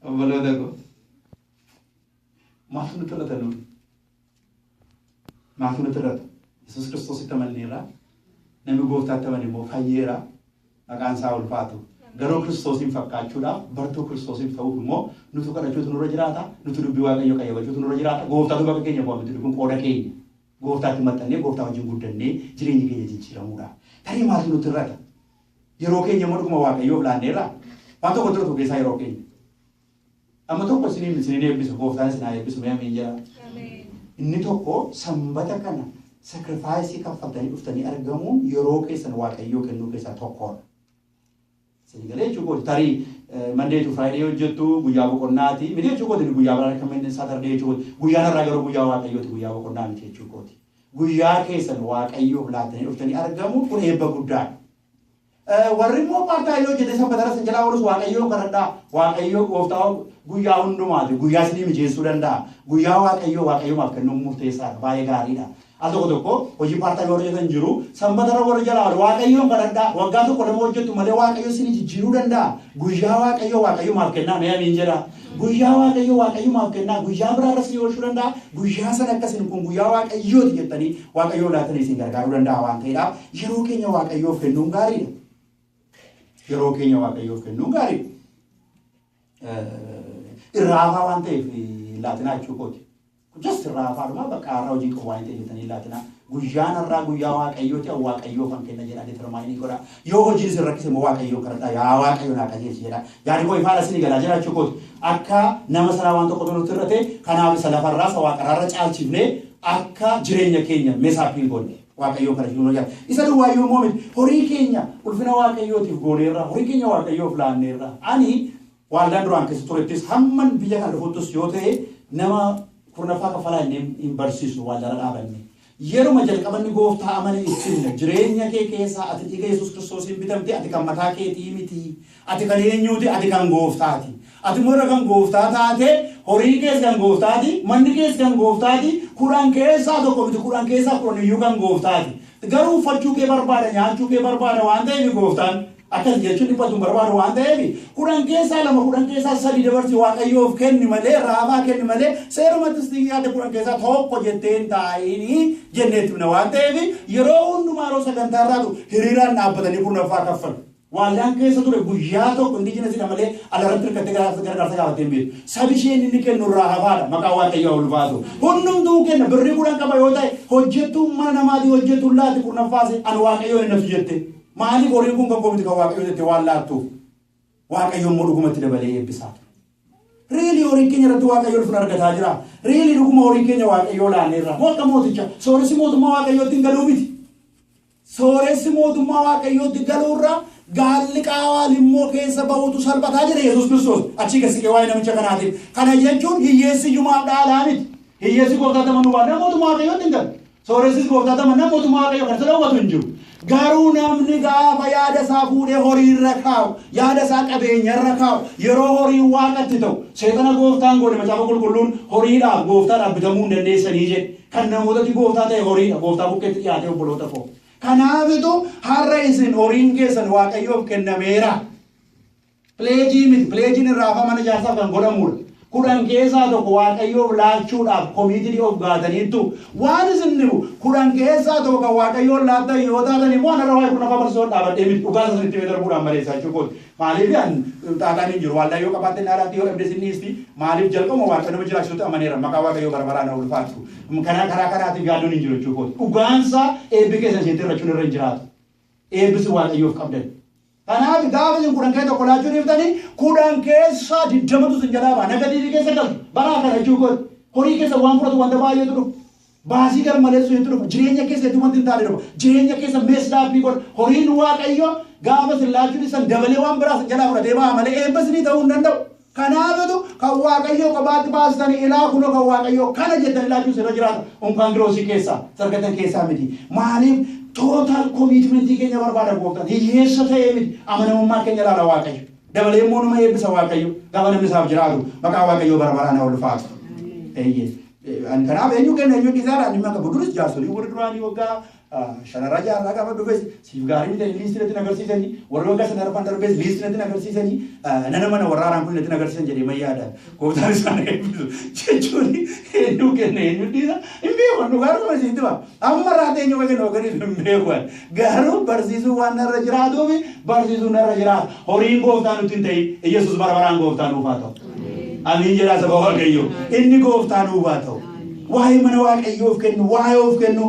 Obboloota koo maaf nu xirrata nuun maaf nu xirrata Yesuus Kiristoositti amanneerra namni gooftaatti amane immoo fayyeera maqaan isaa ulfaatu garuu Kiristoosiin fakkaachuudhaaf bartuu Kiristoosiin ta'uuf immoo nutu kadhachuutu nurra jiraata nutu dubbii waaqayyo qayyabachuutu nurra jiraata gooftaatu bakka keenya bu'aa miti kun qooda keenya gooftaatti maxxannee gooftaa wajjin guddannee jireenya keenya jijjiiramuudha tarii maaf nu xirrata Yeroo keenya immoo dhuguma Waaqayyoof laanneerraa? Waan tokko tura keessaa yeroo keenya. Amma tokko isiniin isiniin eebbisu gooftaan isin haa eebbisu mee ameen jedhaa. Inni tokko sanbata kana sakrifaayisii kaffaltanii dhuftanii argamuun yeroo keessan waaqayyoo kennuu keessaa tokkodha. Isin galee jechuu kooti tarii mandee tu firaayidee hojjettu guyyaa boqonnaati miti jechuu kooti inni guyyaa biraan akka manneen saatardee jechuu kooti guyyaan har'aa garuu guyyaa waaqayyooti guyyaa boqonnaa miti jechuu kooti. Guyyaa keessan Waaqayyoof laattanii dhuftanii argamuun kun eebba guddaadha. Eh, Warri immoo paartaa yoo hojjete sanbataras hin jalaa oolus Waaqayyoon kadhadhaa. Waaqayyoo gooftaa guyyaa hundumaati. Guyyaa isinii mijeessuu danda'a. Guyyaa Waaqayyoo Waaqayyoomaaf kennuun murteessaadha. Baay'ee gaariidha. Al tokko tokko hojii paartaa yoo hojjetan jiru sanbatara warri jalaa oolu Waaqayyoon kadhadhaa. Waggaa tokko lama hojjettu malee Waaqayyo isinii jijjiiruu danda'a. Guyyaa Waaqayyoo Waaqayyoomaaf kennaa mee amiin jedhaa. Guyyaa Waaqayyo Waaqayyumaaf kennaa guyyaa biraa irra isinii oolchuu danda'a. Guyyaa sana akka isin kun guyyaa Waaqayyoo ti jettanii Waaqayyoo laatanii isin gargaaruu danda'a waan ta'eedhaaf yeroo keenya Waaqayyoof kennuun gaariidha. Yeroo keenya Waaqayyoof kennuun gaariidha. Irraa hafaa waan ta'eef laatinaa jechuu kooti. Just irraa hafaa dhumaa baqqaa har'a hojii qabu waan hin ta'e jettanii hin laatinaa. Guyyaan har'aa guyyaa Waaqayyooti an Waaqayyoofan kenna jedhaa determaayinii godhaa. Yoo hojiin isin rakkise immoo Waaqayyoon kadhadhaa yaa Waaqayyo naa qajeelchi jedhaa. Yaadi koo ifaadha isin galaa jiraachuu kooti. Akka nama sanaa waan tokkotu nutti irra ta'e kanaaf isa lafarraa isa waaqarraarra caalchifnee akka jireenya keenya mesa appeal goonne. Waaqayyoon kadhachuun nu jaal. Isa duwwaayyuu immoo miti horii keenya ulfina Waaqayyootiif gooneerra horii keenya Waaqayyoof laanneerra. Ani Waaldaan duraan keessa turettis hamman biyya kana dhufuttis yoo ta'e nama kurnaffaa kaffalaa jennee hin barsiisnu waaldaarra dhaabannee. Yeruma jalqaba inni gooftaa amane itti himna. Jireenya kee keessaa ati dhiiga Yesuus Kiristoosiin bitamte ati kan mataa keetii miti. Ati kan eenyuuti? Ati kan gooftaati. Ati immoo erga kan gooftaa taate horiin kees kan gooftaati, manni kees kan gooftaati, kudhan keessaa tokko miti kudhan keessaa kudhan iyyuu kan gooftaati. Garuu uffachuu kee barbaada, nyaachuu kee barbaada waan ta'eef gooftaan Akkas jechuun dhiphatu hin barbaadu waan ta'eef, kudhan keessaa lama, kudhan keessaa sadi dabarsi Waaqayyoof kenni malee, Raamaa kenni malee, seerumattis xiyyaate kudhan keessaa tokko jettee hin taa'inii jennee itti himna waan ta'eef, yeroo hundumaa yeroo sagantaa irraatu hiriiraan dhaabbatanii kurnaffaa kaffalu. Waaldaan keessa ture guyyaa tokko indigenous dha malee ala irratti hirkattee gargaarsa gaafattee hin beektu. Sabi isheen inni kennu irraa hafaa dha. Maqaa Waaqayyoo haa ulfaatu. Hundumtuu kenna birrii kudhan qaba yoo ta'e hojjettuun mana namaatii hojjettuun laati kurnaffaa ishee ani Waaqayyoon hin nafsu jette. Maaliif horiin kun kan koo miti kan Waaqayyoo jettee waan laattuuf Waaqayyo immoo dhugumatti dabalee eebbisaa ture. Riilii horiin keenya irratti Waaqayyo ulfina argataa jira. Riilii dhuguma horii keenya Waaqayyoo laanneerra. Moo akka mooticha sooressi mootummaa Waaqayyootti hin galuu miti. Sooressi mootummaa Waaqayyootti galuurra gaalli qaawaan immoo keessa ba'uutu salphataa jedhe Yesuus Kiristoos. Achii gad siqee waa'ee namicha kanaatiif. Kana jechuun hiyyeessi iyyumaaf dhaalaa miti. Hiyyeessi gooftaatti amanuu baannaan mootummaa Waaqayyootti hin galu. Sooressis gooftaa tama nama mootummaa Waaqayyoo kana isa dhowwatu hin jiru. Garuu namni gaafa yaada isaa fuudhee horii irra kaa'u, yaada isaa qabeenya irra kaa'u, yeroo horiin waaqatti ta'u, seexana gooftaan goone macaafa qulqulluun horiidhaaf gooftaadhaaf bitamuu hin dandeessanii jedhe. Kan namootatti gooftaa ta'e horiidha, gooftaa bukkeetti dhiyaatee obboloota koo. Kanaafitu har'a isin horiin keessan Waaqayyoof kennameera. Pileejii miti. Pileejiin irraa hafaa mana ijaarsaaf kan godhamuudha. Kudhan keessaa tokko Waaqayyoof laachuudhaaf committed of gaataniittu. Waan isin dhibu kudhan keessaa tokko kan Waaqayyoon laattan yoo taatan immoo anarra waa'ee kurnaffaa barsiisuun dhaabadhee miti. Dhugaa isaa isinitti himee darbuudhaan maleessaa jechuu kooti. Maaliif an xaaxaan hin jiru. Waaldaa yoo qabaatte naa laatti yoo dhabdes hin dhiisti. Maaliif jalqabuma Waaqayyo nama jiraachisutti amaneera. Maqaa Waaqayyoo bara baraan haa ulfaatu. Kana karaa kanaatiif yaaddoon hin jiru jechuu kooti. Dhugaan isaa eebbi keessan isinitti hir'achuun irra hin jiraatu. Eebbi isin Waaqayyoof qabdan. Kanaaf gaafa isin kudhan keessaa tokko laachuu dhiiftani kudhan keessaa digdamatu isin jalaa ba'a. Nagatiivii keessa galtu. Bara akkana jechuu kooti. Horii keessan waan fudhatu wanta baay'eetu dhufa. Baasii garmaleessu hedduu dhufa. Jireenya keessa hedduu wanti hin taane dhufa. Jireenya keessa messed up godha. Horiin Waaqayyoo gaafa isin laachuu dhiistan dabalee waan biraa isin jalaa fudhatee ba'a malee eebba isinii ta'uu hin danda'u. Kanaafitu kan Waaqayyoo kophaatti baastani ilaa kunoo kan Waaqayyoo kana jettani ilaachuu isinirra jiraata. Unkaan Kiroosii keessaa isa argattan keessaa miti. Maaliif total commitment keenya barbaada gooftaan. Hiyyeessa ta'ee miti. Amanamummaa keenya ilaala Waaqayyo. Dabalee immoo nama eebbisa Waaqayyo. Gaafa namni isaaf jiraatu maqaa Waaqayyoo bara baraan haa ulfaatu. Eeyyee. Ani kanaaf eenyu kenna eenyu dhiisaadhaan dhimma qabu. Duris jaarsolii warri duraanii waggaa Sharara jaarraa gaafa dhufes siif gaarii miti jedhanii liistii natti nagarsiisanii warri waggaa shan arfan darbees liistii natti nagarsiisanii nana mana warra haaraan kun natti nagarsiisan jedhee man yaada. Gooftaan isaan eebbisu jechuun eenyu kenna eenyu dhiisa hin beeku dhugaa dhuma isiitti ba'a. Amma irraa eenyu akka kenna hoogganiif hin beeku. Garuu barsiisuu waan narra jiraatuu fi barsiisuu narra jiraata. Horiin gooftaa nutti hin ta'in. Iyyasuus bara baraan gooftaa nuuf haa ta'u. Amiin jedhaa saba Waaqayyoo. Inni gooftaa nuuf haa ta'u. Waa'ee mana Waaqayyoo of kennu, waa'ee of kennu,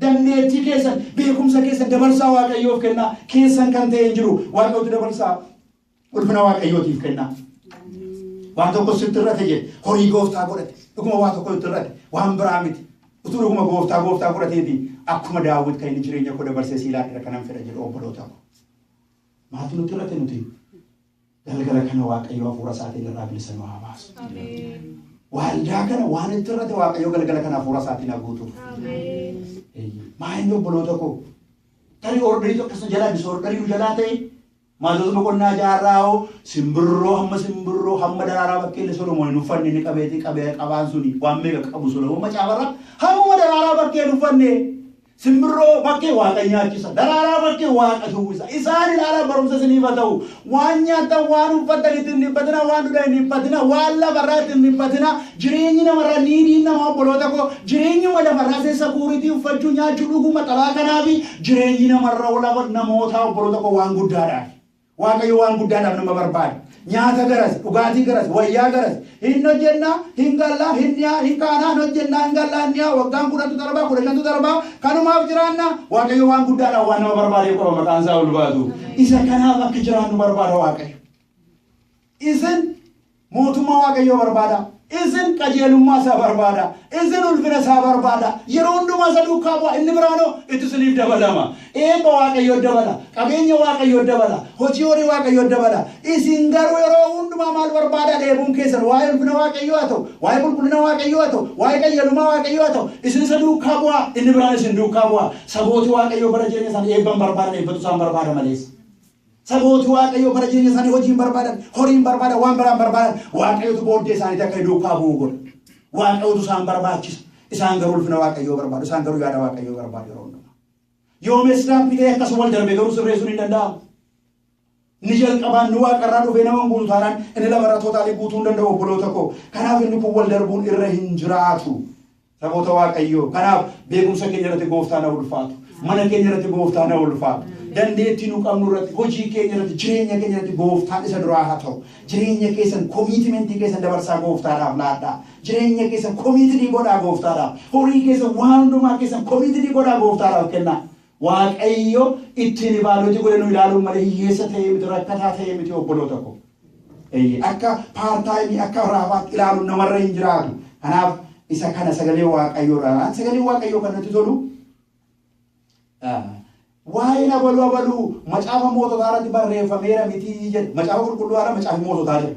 Dandeettii keessan, beekumsa keessan dabarsaa Waaqayyoof kennaa. Keessan kan ta'e hin jiru. Waaqayyootu dabarsaa. Ulfina Waaqayyootiif kennaa. Waan tokko sitti irrate jedhe. Horii gooftaa godhate. Dhuguma waa tokko itti irrate. Waan biraa miti. Utuu dhuguma gooftaa gooftaa godhateeti akkuma daawwit kan inni jireenya koo dabarsee sii laadhira kanan fedha jedhu obboloota koo. Maaltu nutti irrate nuti? Galgala kana Waaqayyo hafuura isaatiin irraa bilisa nu haa baasu. Waaldaa kana waan itti irratti Waaqayyo galgala kana hafuura isaatiin haa guutuuf. Maayinni obboloota koo tarii ordarii tokko isa jalaa bisu ordarii nu jalaa ta'e maatota boqonnaa jaarraa hoo simbirroo hamma simbirroo hamma daraaraa bakkeelli solomoon hin uffanne ni qabeeti qabee qabaan suni waan meeqa qabu solomoon macaafarra hammuma daraaraa bakkee hin uffanne Simbirroo bakke Waaqa nyaachisa. Daraaraa bakke Waaqa shuubbisa. Isaan ilaalaa barumsa isiniif haa ta'u. Waan nyaattan, waan uffattan itti hin dhiphatinaa, waan dhugdan hin dhiphatinaa, waan lafa irraa itti hin dhiphatinaa. Jireenyi nama irraa niidiin namaa obboloota koo jireenyuma lafa irraa see sakuuritii uffachuu nyaachuu dhuguu maxabaa kanaafi jireenyi nama irra namootaa obboloota koo waan guddaadhaafi. Waaqayyo waan guddaa naaf nama barbaada. Nyaata garas, dhugaatii garas, wayyaa garas. Hin hojjennaa, hin gallaa, hin dhiyaa, hin kaanaa, hin hojjennaa, hin gallaa, hin dhiyaa, waggaan kudhantu darbaa, kudha shantu darbaa, kanumaaf jiraannaa? Waaqayyo waan guddaadhaaf waan nama barbaadeef qaba maqaan isaa ulfaatu. Isa kanaaf akka jiraannu barbaada Waaqayyo. Isin Mootummaa Waaqayyoo barbaadaa. Isin qajeelummaa isaa barbaadaa. Isin ulfina isaa barbaadaa. Yeroo hundumaa isa duukaa bu'aa. Inni biraanoo itti isiniif dabalama. Eebba Waaqayyoo dabala. Qabeenya Waaqayyoo dabala. Hojii horii Waaqayyoo dabala. Isin garuu yeroo hundumaa maal barbaadaa? Dheebuun keessan waa'ee ulfina Waaqayyoo haa ta'u, waa'ee qulqullina Waaqayyoo haa ta'u, waa'ee qajeelummaa Waaqayyoo haa ta'u, isin isa duukaa bu'aa. Inni biraan isin duukaa bu'aa. Sabooti Waaqayyoo bara jireenya isaanii eebba hin barbaadan, eebbatu isaan barbaada malees. Sabooti Waaqayyoo bara jireenya isaanii hojii hin barbaadan, horii hin barbaadan, waan biraa hin barbaadan. Waaqayyotu booddee isaaniitti akka inni duukaa bu'u godha. Waaqayyotu isaan barbaachisa. Isaan garuu ulfina Waaqayyoo barbaadu. Isaan garuu yaada Waaqayyoo barbaadu yeroo hundumaa. Yoo meeshaan bitee akkas wal darbe garuu sirreessuun hin danda'amu. Inni jalqabaan inni waaqarraa dhufee nama hin guutu taanaan inni lamarra tootaalii guutuu hin danda'u obboloota koo. Kanaaf inni kun wal darbuun irra hin jiraatu. Namoota Waaqayyoo. Kanaaf beekumsa keenya irratti gooftaan haa ulfaatu. Mana keenya irratti gooftaan haa ulfaatu. Dandeettii nu qabnu irratti, hojii keenya irratti, jireenya keenya irratti gooftaan isa duraa haa ta'u. Jireenya keessan komiitimentii keessan dabarsaa gooftaadhaaf laadhaa. Jireenya keessan komiitidii godhaa gooftaadhaaf. Horii keessan waan hundumaa keessan komiitidii godhaa gooftaadhaaf kennaa. Waaqayyo ittiin ibaadooti godhe nu ilaaluun malee hiyyeessa ta'ee miti rakkataa ta'ee miti obboloota koo. Eeyyee, akka paartaayimii, akka raafaatti ilaaluun namarra hin jiraatu. Kanaaf isa kana sagalee Waaqayyoo irraa ilaalan. Sagalee Waaqayyoo kan natti tolu waa'een abaluu abaluu macaafa moototaa irratti barreeffameera mitii jedha. Macaafa qulqulluu haala macaafi moototaa jedha.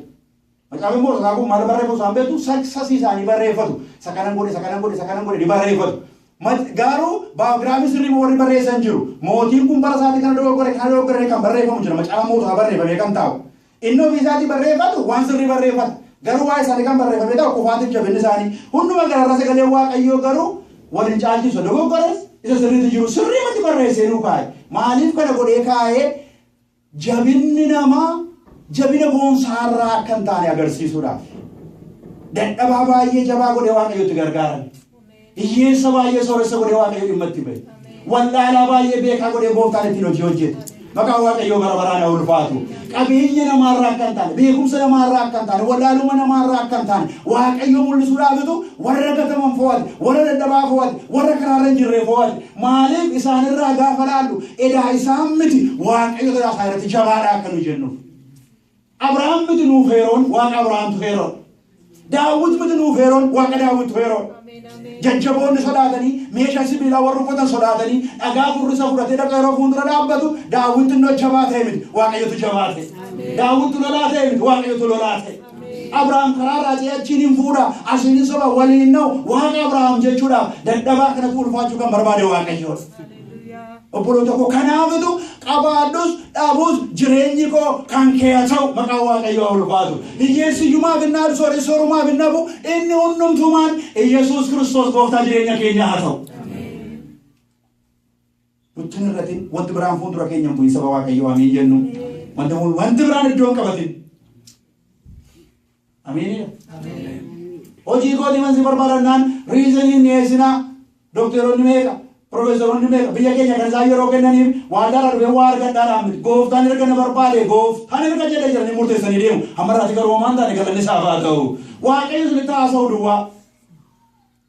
Macaafi moototaa kun maal barreeffatu isaan beektu? Saksasii isaanii barreeffatu. Isa kanan godhe, isa kanan godhe, isa kanan godhe ni barreeffatu. Mat, Gaaruu biography sirrii warri barreessan jiru. Mootiin kun bara isaatti kana dogoggore kana dogoggore jedhee kan barreeffamu jira macaafa moototaa barreeffamee kan taa'u. Inni ofii isaatii barreeffatu waan sirrii barreeffata. Garuu waa'ee isaanii kan barreeffamee taa'u kufaatiif jabinni isaanii. Hunduma gararra sagaleen waaqayyoo garuu wal hin caalchisu. Isa dogoggores isa sirriitu jiru sirriimatti barreessee nuu kaa'e. Maaliif kana godhee kaa'ee? Jabinni namaa jabina boonsaa irraa akka hin taane agarsiisuudhaaf. Dadhabaa baay'ee jabaa godhee Waaqayyo itti gargaarame. Hiyyeessa baay'ee sooressa godhee Waaqayyo dhimma itti bahe. Wallaalaa baay'ee beekaa godhee gooftaan ittiin hojii hojjete. Maqaan Waaqayyoo bara baraan haa ulfaatu. Qabeenya namaarraa akka hin taane, beekumsa namaarraa akka hin taane, wallaaluma namaarraa akka hin taane, Waaqayyo mul'isuudhaafitu warra gataman fo'ate, warra dadhabaa fo'ate, warra karaarra hin jirre fo'ate. Maaliif isaan irraa gaafa laallu edaa isaan miti Waaqayyo garaa isaa irratti jabaadha akka nu jennuuf. Abrahaam miti nuuf heeroon Waaqa Abrahaamtu heeroo. Daawwit miti nuuf heeroon Waaqa Daawwittu heeroo. Jajjaboonni sodaatanii meeshaa sibiilaa warra uffatan sodaatanii dhagaa furrisa fudhatee dhaqa yeroo fuuldura dhaabbatu daawwitti innoo jabaa ta'e miti Waaqayyotu jabaa ta'e. Daawwitti lolaa ta'e miti Waaqayyotu lolaa ta'e. Abrahaam karaa raajii achiin hin fuudha, asiin hin soba, waliin hin na'u. Waaqa Abrahaam jechuudhaaf dadhabaa kanatu ulfaachuu kan barbaade Waaqayyoodha. Obboloota koo kanaafitu qabaadhus dhabus jireenyi koo kan kee haa ta'u maqaa Waaqayyoo haa ulfaatu. Hiyyeessi iyyumaaf hin naadu, sooressi soorumaaf hin dhabu, inni hundumtumaan Iyyasuus Kiristoos gooftaa jireenya keenyaa haa ta'u. Gochun irratin wanti biraan fuundura keenya hin bu'in saba Waaqayyoo amiin jennu. Wanti kun wanti biraan iddoo hin qabatin. Amiinidha. Hojii kootii wanti barbaadannaan riizaniin dhiyeessinaa dokteeronni meeqa piroofeesaroonni meeqa biyya keenya kan isaan yeroo kennaniif waadaadha dhufee waa argadhaadhaan miti gooftaan erga na barbaade gooftaan erga jedhe jedhanii murteessanii deemu amma irraatti garuu homaan taane galanni isaaf haa ta'u waaqayyo isinitti haasa'u duwwaa